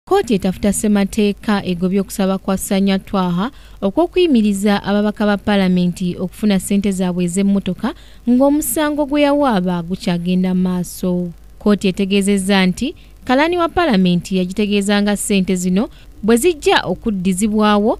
kkooti etafuta ssemateeka egobye okusaba kwa sanya twaha okw'okuyimiriza ababaka ba palamenti okufuna ssente zaabwe ez'emmotoka ng'omusango gwe yawaaba gukyagenda maaso kkooti etegeezezza nti kalaani wa palamenti yagitegeeza nga ssente zino bwe zijja okuddizibwawo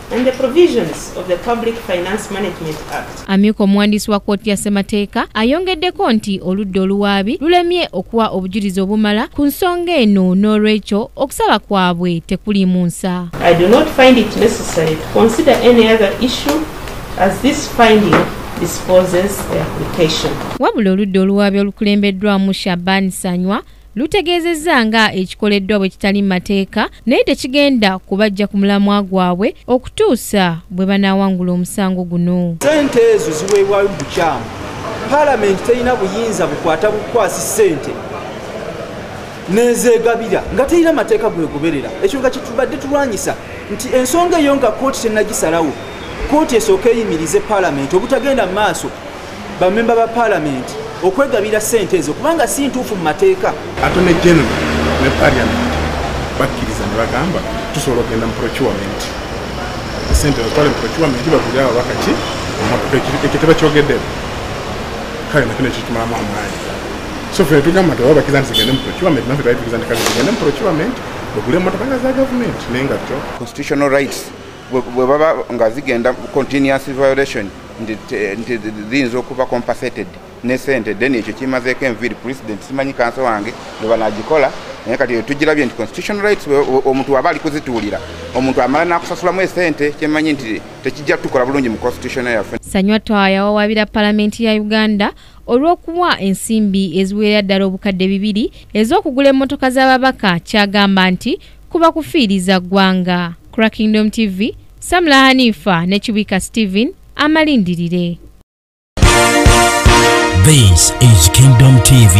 and the provisions of the Public Finance Management Act. Amyuka omuwandiisi wa kkooti ya Ssemateeka ayongeddeko nti oludda oluwaabi lulemye okuwa obujulizi obumala ku nsonga eno n'olwekyo okusaba kwabwe tekuli mu nsa. I do not find it necessary to consider any other issue as this finding disposes the application. Wabula oludda oluwaabi olukulembeddwamu Shaban Sanywa lutegeezezza nga ekikoleddwa bwe kitali mu mateeka naye tekigenda kubajja ku mulamwa gwabwe okutuusa bwe banaawangula omusango guno sente ezo ziweebwayo mu bukyamu palamenti terina buyinza bukwata bukwasi sente nezegabira nga terina mateeka gwegoberera ekyo nga kyetubadde tulwanyisa nti ensonga eyo nga kooti tenagisalawo kooti esooka eyimirize palamenti obutagenda mu maaso bamemba ba palamenti okwegabira sente ezo kubanga si ntuufu mu mateeka atone general ne paliament bakkiriza ne bagamba tusobola okugenda mu procurement sente batwale mu procurement bagulire ababaka ki emotoka ekyo tebakyogedde kale nakino kitumalamu amaanyi so fe tugamba nti obabakiza nti zigende mu procurement nafe twali tukiza nti kale zigende mu procurement bagule emotoka nga za gavumenti naye nga kyo constitutional rights bwe baba nga zigenda continuous violation nti ziyinza okuba compensated ne sente then ekyo kimazeeko enviiri president simanyi kanso wange bwe banagikola naye kati etugirabye nti constitutional rights omuntu waba ali kuzituulira omuntu amala n'akusasulamu esente kyemanyi nti tekijja tukola bulungi mu constitution yaffe sanywa twaya wawabira palamenti ya uganda olw'okuwa ensimbi eziweera ddala obukadde bibiri ez'okugula emmotoka z'ababaka kyagamba nti kuba kufiiriza ggwanga crackingdom tv samula hanifa ne kibwika stephen amalindirire this is kingdom tv